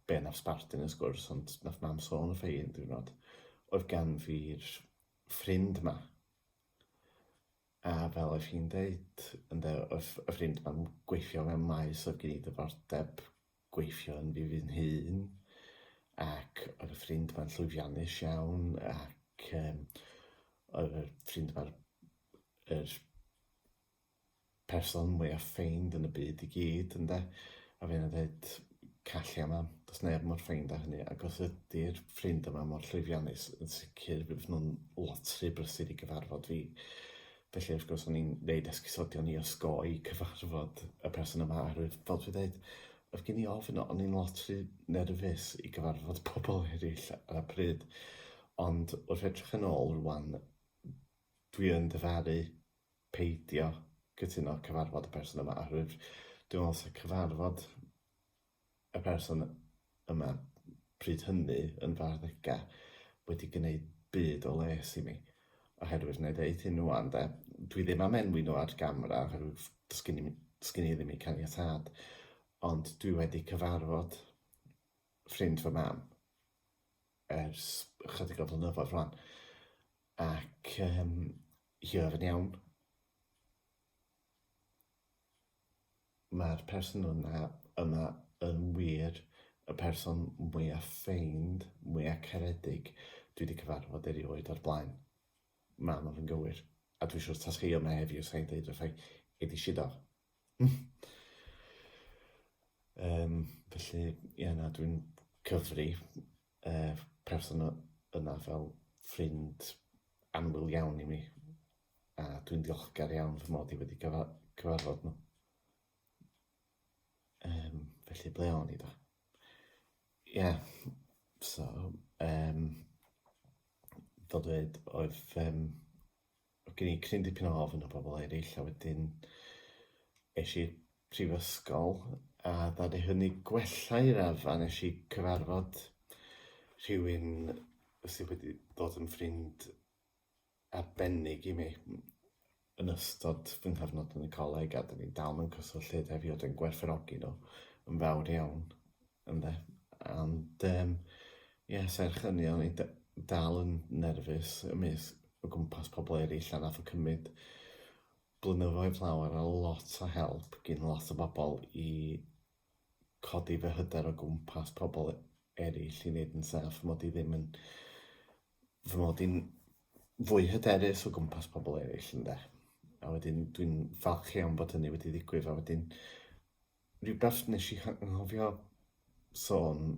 be wnaeth sbarduno y sgwrs ond wnaeth Mam sôn wrtha i un diwrnod, oedd gan fi'r ffrind 'ma A fel oedd hi'n deud, ynde, oedd y ffrind ma'n gweithio mewn maes oedd gen i ddyfordeb gweithio yn fi fy hun, ac oedd y ffrind ma'n llwyddiannus iawn, ac um, oedd y ffrind ma'r yr person mwyaf ffeind yn y byd i gyd, ynde? A fe yna dweud, Callia mam, does neb mor ffeind â hynny, ac os ydy'r ffrind yma mor llwyddiannus, yn sicr bydd nhw'n lot rhy brysur i gyfarfod fi. Felly, wrth gwrs, o'n i'n neud esgusodion i osgoi cyfarfod y person yma, oherwydd, fel dwi'n dweud, oedd gen i ofn, o'n i'n lot rhy nerfus i gyfarfod pobl eraill ar y pryd. Ond wrth edrych yn ôl rwan, dwi yn dyfaru peidio cytuno cyfarfod y person yma oherwydd dwi'n meddwl sa cyfarfod y person yma pryd hynny yn fy arddegau wedi gwneud byd o les i mi oherwydd wna i ddeud hyn ŵan de, dwi ddim am enwi nhw ar gamera oherwydd does gen i does gen i ddim eu caniatâd ond dwi wedi cyfarfod ffrind fy mam ers ychydig o flynyddoedd rwan ac yym Hwyr yn iawn. Mae'r person yna, yma yn wir y person mwya ffeind, mwya caredig dwi di cyfarfod erioed o'r blaen. Mae hwnnw yn gywir. A dwi siwr tasai hi yma heddiw sai'n deud wrtha i, Edi Sidor, Yym felly ie na dwi'n cyfri yy person y- yna fel ffrind annwyl iawn i mi a dwi'n ddiolchgar iawn fy mod i wedi cyfa- cyfarfod nhw. Yym felly ble o'n i 'da? Ie so yym fel dweud oedd yym Oedd gen i cryn dipyn o ofn o bobl eraill a wedyn es i'r prifysgol a ddaru hynny gwella i raddfa, nes i cyfarfod rhywun sydd wedi dod yn ffrind arbennig i mi yn ystod fy nghyfnod yn y coleg a 'dyn ni dal mewn cyswllt hyd heddiw a dwi'n gwerthfawrogi nhw yn fawr iawn. Ynde. Ond um, ie, serch hynny, o'n i dal yn nerfus y mis o gwmpas pobl eraill a nath o cymryd blynyddoedd lawer a lot o help gyn lot o bobl i codi fy hyder o gwmpas pobl eraill i wneud yn saff, mod i ddim yn... fy mod i'n fwy hyderus o gwmpas pobl eraill, ynde. A wedyn, dwi'n falch iawn bod hynny wedi ddigwydd, a wedyn, Rhywbeth wnes i anghofio sôn,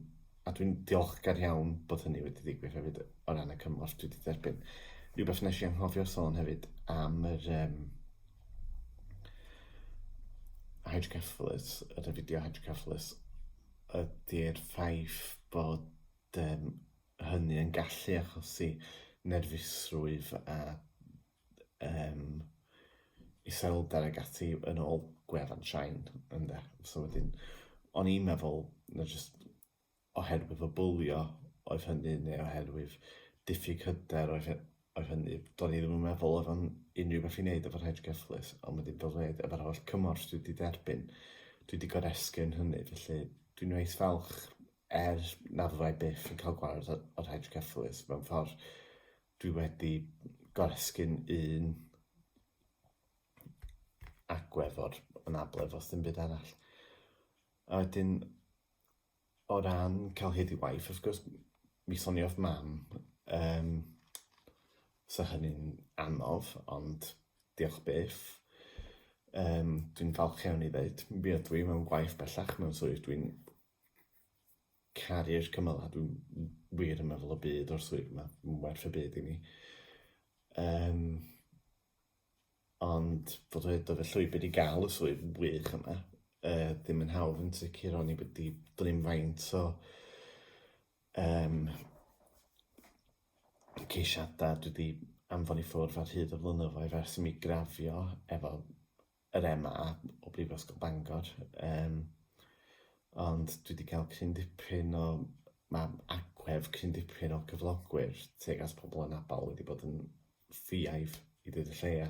a dwi'n diolchgar iawn bod hynny wedi ddigwydd hefyd o ran y cymorth dwi wedi derbyn. Rhywbeth wnes i anghofio sôn hefyd am yr um, hydrocephalus, y rhefideo hydrocephalus, ydy'r ffaith bod um, hynny yn gallu achosi nerfusrwydd a um, iselder ag ati yn ôl gwefan Shine, ynde. So wedyn, o'n i'n meddwl, na just oherwydd o bwlio oedd hynny, neu oherwydd diffyg hyder oedd, oedd hynny. Do'n i ddim yn meddwl oedd o'n unrhyw beth i wneud efo'r hedge gyfflus, ond wedyn fel dweud, efo'r holl cymorth dwi wedi derbyn, dwi wedi goresgyn hynny, felly dwi'n weith falch er nad fyddai byth yn cael gwared o'r hedge gyfflus mewn ffordd Dwi wedi goresgyn un agwedd o'r anabledd os dim byd arall. A wedyn, o ran cael hyd i waith, wrth gwrs, mi soniodd mam, um, so hynny'n anodd, ond diolch byth. Um, dwi'n falch iawn i ddeud, mi ydw i mewn gwaith bellach mewn swydd dwi'n Caru'r cymylau, dwi'n wir yn meddwl y byd o'r swydd yma, mae'n werth y byd i mi. Um, ond fod wedi dod y llwybr i gael y swydd wych yma, uh, ddim yn hawdd yn sicr, o'n i wedi drin faint o um, ceisiadau dwi wedi anfon i ffwrdd ar hyd y flynyddoedd ers i mi grafio efo yr MA o Brifysgol Bangor, um, ond dwi wedi cael cryn dipyn o, mae agwedd cryn dipyn o gyflogwyr teg at pobl yn abal wedi bod yn ffiaidd i ddweud y lleia.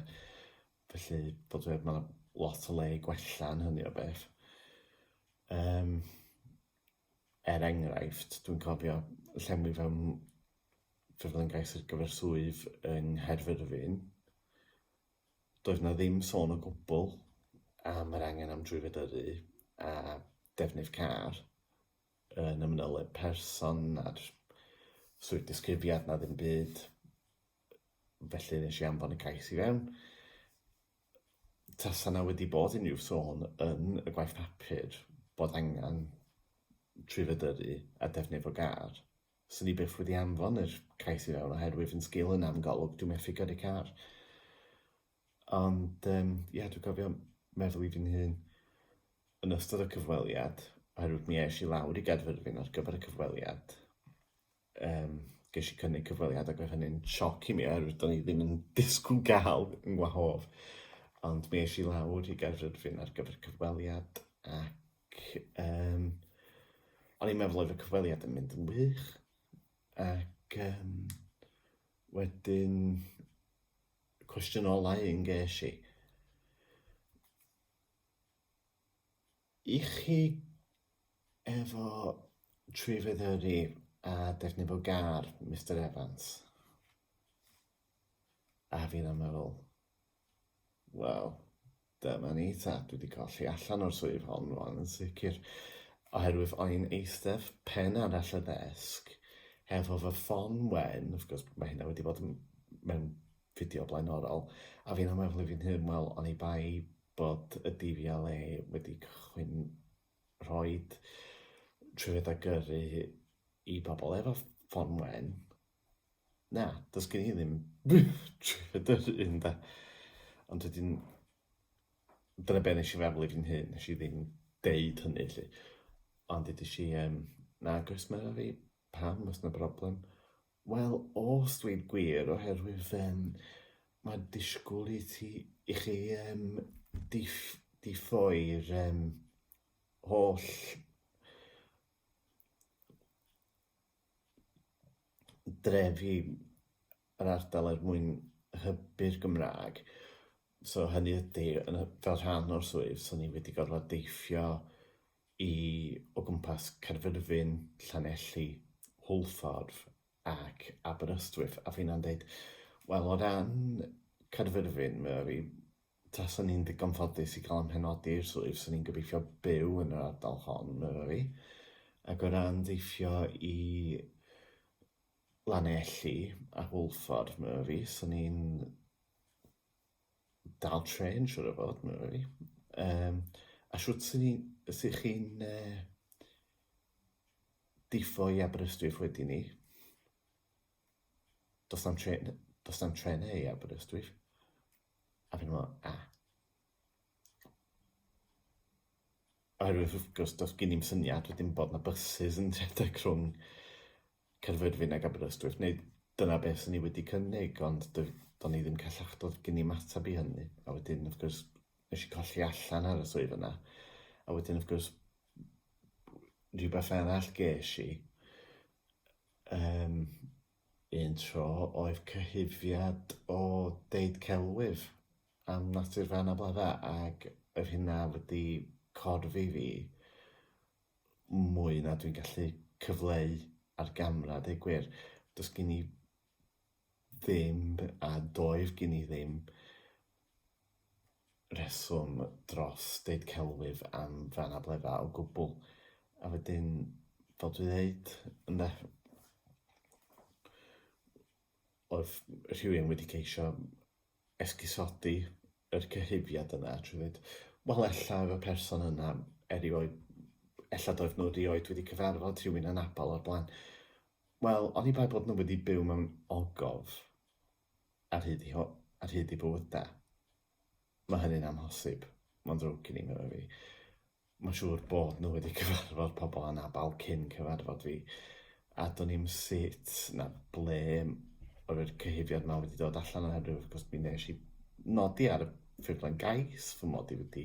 Felly, bod wedi, mae lot o le i gwella yn hynny o beth. Um, er enghraifft, dwi'n cofio llenwi fewn ffurflen gais ar gyfer swydd yng Nghaerfyrddin, Doedd 'na ddim sôn o gwbl am yr angen am drwyfedyddu a defnydd car yn y manyleb person a'r swydd disgrifiad 'na ddim byd, felly nes i anfon y cais i fewn. Tasa 'na wedi bod unrhyw sôn yn y gwaith papur bod angen trwyfedyddu a defnydd o gar, 'Swn i byth wedi anfon yr cais i fewn oherwydd yn sgil hynna am Golwg dwi methu codi car. Ond yym ie dwi cofio meddwl i fi'n hun yn ystod y cyfweliad oherwydd mi esh i lawr i Gaerfyrddin ar gyfer y cyfweliad yym gesh i cynnig cyfweliad ac oedd hynny'n sioc i mi oherwydd do'n i ddim yn disgwyl ga'l yn ngwahodd ond mi esh i lawr i Gaerfyrddin ar gyfer cyfweliad ac Ac um, o'n i'n meddwl oedd y cyfweliad yn mynd yn wych. Ac um, wedyn, cwestiwn olau yn ges i. I chi efo tri feddyri a defnydd o gar, Mr Evans? A fi'n am meddwl, Wel, dyma ni ta, dwi wedi colli allan o'r swydd hon rwan yn sicr, oherwydd o'n eistedd pen arall y ddesg, hefo fy ffon wen, wrth gwrs mae hynna wedi bod mewn fideo blaenorol, a fi'n ymwybodol fi'n hyn, wel, o'n i bai bod y DVLA wedi cychwyn rhoi trwyddedau gyrru i bobl efo ffon wen, Na, does gen i ddim trwydd yr un da. Ond wedyn, dyna be nes i feddwl i fi'n hyn, nes i ddim deud hynny, lle. Ond dydys i, um, na, gos mae fi, pam, os na broblem? Wel, os dwi'n gwir, oherwydd, um, mae disgwyl i ti, i chi, um, diff, diffoi'r, um, holl dref i yr ardal er mwyn hybu'r Gymraeg. So hynny ydi, yn y... fel rhan o'r swydd, so ni wedi gorfod deithio i o gwmpas Caerfyrddin, Llanelli, Hwlffordd ac Aberystwyth, a finna'n deud, wel o ran Caerfyrddin, ma' fi Tasan ni'n ddigon ffodus i gael ein penodi i'r swydd, so ni'n gobeithio byw yn yr ardal hon, medda fi. Ac o ran deithio i Lanelli a Hwlffordd, medda fi, so ni'n dal trên, siŵr o fod, medda fi. Yym, a shwt sy' ni- sy' chi'n yy diffo i Aberystwyth wedyn 'ny? Does na'm trên, does na'm trenau i Aberystwyth. A fi'n meddwl, na. Oherwydd wrth gwrs, does gen i'm syniad wedyn bod 'na byses yn rhedeg rhwng Caerfyrddin ac Aberystwyth, neu dyna be swn i wedi cynnig, ond do- do'n i ddim callach, doedd gen i'm ateb i hynny. A wedyn wrth gwrs, nes i colli allan ar y swydd yna, a wedyn wrth gwrs, rhywbeth arall ges i, yym, Un tro oedd cyhuddiad o deud celwydd am natur fy anableddau ac oedd hynna wedi corf i fi mwy na dwi'n gallu cyfleu ar gamera, deu gwir. Does gen i ddim a doedd gen i ddim rheswm dros deud celwydd am ran abledda o gwbl. A wedyn, fel dwi ddeud, ynde, oedd rhywun wedi ceisio esgusodi yr cyhuddiad yna trwy ddeud, wel ella oedd y person yna erioed, ella doedd nhw erioed wedi cyfarfod rhywun anabl o'r blaen. Wel, oni bai bod nhw wedi byw mewn ogof, ar hyd i ar hyd i bywydau. Mae hynny'n amhosib. Mae'n ddrwg gen i, meddai fi. Mae'n siŵr bod nhw wedi cyfarfod pobl anabl cyn cyfarfod fi, a do'n i'm sut na ble o'r cyhuddiad ma wedi dod allan oherwydd wrth gwrs mi nes i nodi ar y ffurflen gais fy mod i wedi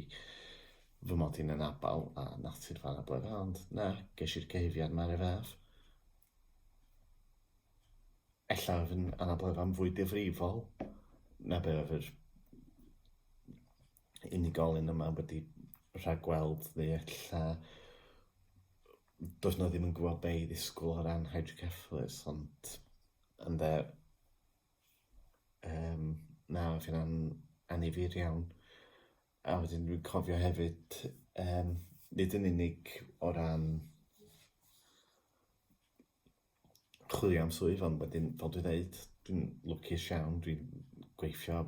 fy mod i'n anabl a natur fan a blwyddyn ond na, ges i'r cyhuddiad ma ar y fath. Ella oedd yn anabl efo'n fwy difrifol na be oedd yr unigolyn yma wedi rhagweld neu ella does nhw ddim yn gwybod be i ddisgwyl o ran hydrocephalus ond ynde um, na oedd hynna'n anifir iawn a wedyn dwi'n cofio hefyd um, nid yn unig o ran chwilio am swydd ond wedyn fel dwi'n dweud dwi'n lwcus iawn dwi'n gweithio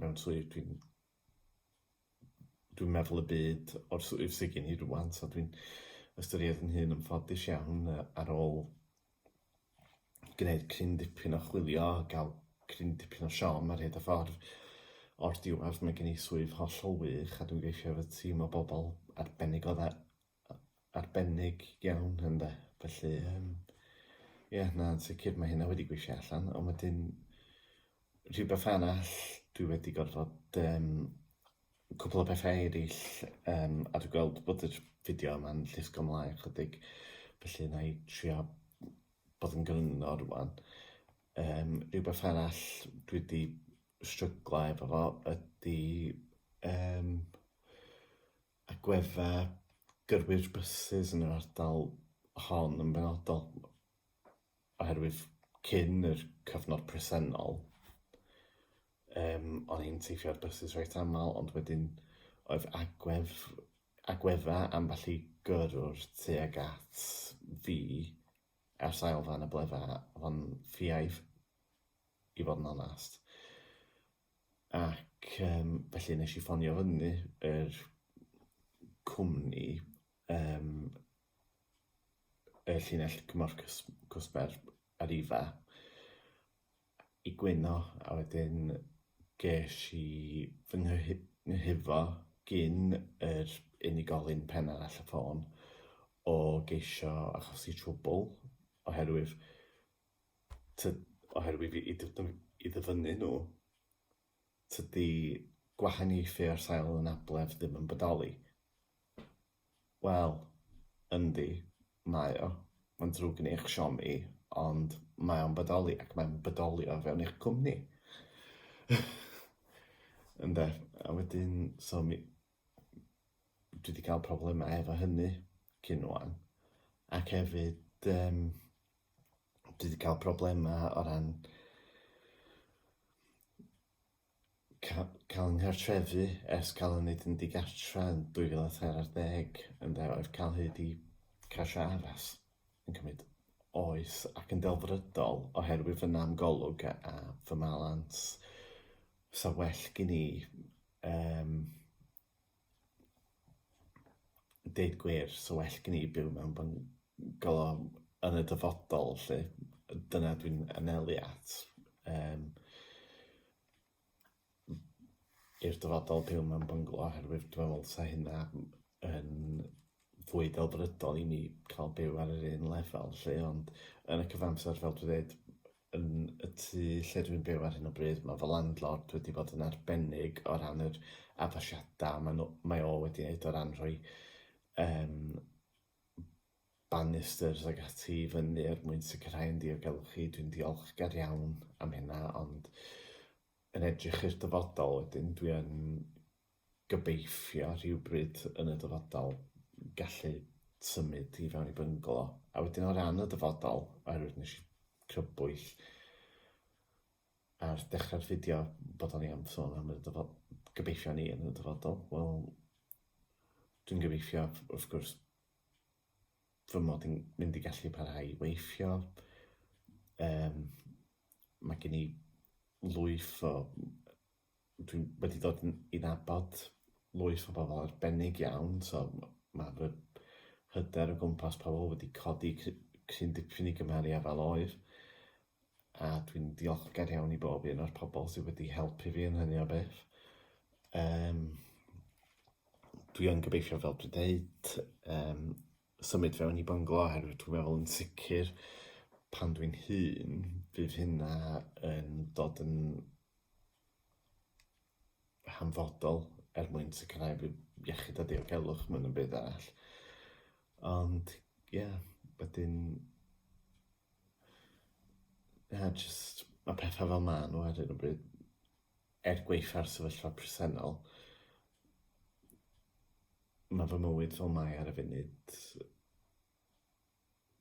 mewn swydd dwi'n dwi'n meddwl y byd o'r swydd sydd gen i rŵan so dwi'n ystyried yn hun yn ffodus iawn yy ar ôl gwneud cryn dipyn o chwilio a ga'l cryn dipyn o siom ar hyd y ffordd o'r diwedd mae gen i swydd hollol wych a dwi'n gweithio efo tîm o bobl arbennig o dda arbennig iawn ynde, felly yym ie na yn sicr mae hynna wedi gweithio allan ond wedyn rhywbeth arall dwi wedi gorfod yym cwpl o bethau eraill yym a dwi'n gweld bod yr fideo yma'n llusgo mlaen chydig felly wna i trio bod yn gryno rŵan yym rhywbeth arall dwi wedi stryglo efo fo ydy yym agweddau gyrwyr bysus yn yr ardal hon yn benodol, oherwydd cyn yr cyfnod presennol yym o'n i'n teithio ar bysus reit aml ond wedyn oedd agwedd agweddau ambell i gyrrwr tuag at fi ar sail fy anableddau o'n ffiaidd i fod yn onest. Ac yym felly wnes i ffonio fyny yr cwmni yym y llinell gymorth cys- cwsmer Arriva i gwyno a wedyn ges i fy nghyhy- nghyhuddo gin yr unigolyn pen arall y ffôn o geisio achosi trwbl oherwydd oherwydd i ddyfynnu nhw, tydi gwahaniaethu ar sail anabledd ddim yn bodoli. Wel, yndi, mae o. Mae'n drwg yn eich siom i, ond mae o'n bodoli ac mae'n bodoli o fewn eich cwmni. Ynde, a wedyn, so mi... dwi wedi cael problemau efo hynny cyn rwan. Ac hefyd, um, dwi wedi cael problemau o ran ca- cael yng nghartrefu ers cael yn neud yn digartra yn 2014 ynde, oedd cael hyd i cash addas yn cymryd oes ac yn delfrydol oherwydd fy nam golwg a, a fy malans. Sa well gen i um, deud gwir, so well gen i byw mewn byngalo yn y dyfodol, lle dyna dwi'n anelu at. Um, i'r dyfodol byw mewn byngalo, oherwydd dwi'n meddwl sa hynna yn fwy delfrydol i ni cael byw ar yr un lefel 'lly ond yn y cyfamser fel dwi ddeud yn y tŷ lle dwi'n byw ar hyn o bryd ma' fy landlord wedi bod yn arbennig o ran yr addasiada ma' nw mae o wedi neud o ran rhoi yym banisters ag ati i fyny er mwyn sicrhau yn ddiogelwch i dwi'n diolchgar iawn am hynna ond yn edrych i'r dyfodol wedyn dwi yn gobeithio rhywbryd yn y dyfodol gallu symud i fewn i byngalo. A wedyn o ran y dyfodol, oherwydd nes i crybwyll ar dechrau'r fideo bod o'n i am sôn am y dyfodol, gobeithio ni yn y dyfodol, wel, dwi'n gobeithio, wrth gwrs, fy mod i'n mynd i gallu parhau i weithio. Um, mae gen i lwyth o Dwi wedi dod yn i nabod lwyth o bobl arbennig iawn, so mae fy hyder o gwmpas pobl wedi codi cryn dipyn i gymharu â fel oedd, a dwi'n diolchgar iawn i bob un o'r pobl sydd wedi helpu fi yn hynny o beth. Um, dwi yn gobeithio, fel dwi'n dweud, um, symud fewn i bynglo oherwydd dwi'n meddwl yn sicr pan dwi'n hun bydd hynna yn dod yn hanfodol er mwyn sicrhau bydd iechyd a diogelwch mewn yn byd arall. Ond ie, yeah, wedyn ie, yeah, jyst mae pethau fel maen nhw ar hyn o bryd. Er gwaetha'r sefyllfa presennol, mae fy mywyd fel mae ar y funud,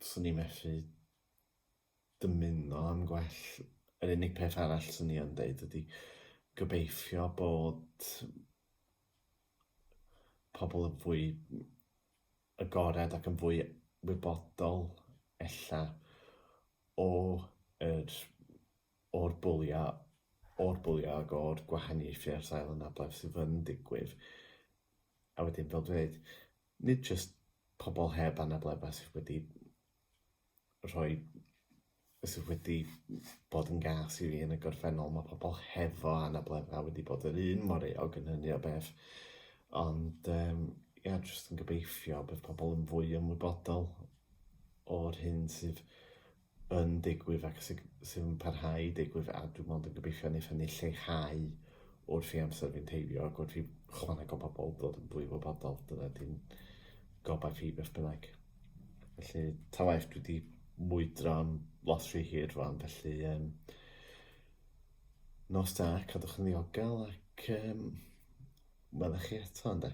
'swn i methu dymuno am gwell. Yr unig peth arall 'swn i yn deud ydi gobeithio bod pobl yn fwy agored ac yn fwy wybodol ella o yr o'r bwli a o'r bwli ag o'r gwahaniaethu ar sail anabledd sydd yn digwydd. A wedyn, fel dwi'n dweud, nid jyst pobl heb anabledda sydd wedi rhoi sydd wedi bod yn gas i fi yn y gorffennol, mae pobl hefo anabledda wedi bod yr un mor eog yn hynny o beth. Ond um, ia, jyst yn gobeithio bydd pobl yn fwy ymwybodol o'r hyn sydd yn digwydd ac sydd sy yn parhau i digwydd a dwi'n mond yn gobeithio wneith hynny lleihau wrth i amser fynd heibio ac wrth i chwaneg o bobl ddod yn fwy wybodol. Dyna di'n gobaith i beth bynnag. Felly, ta waeth, dwi wedi mwydro am lot rhy hir rwan, felly um, nos da, cadwch yn ddiogel ac um, welwch chi eto, ynddo.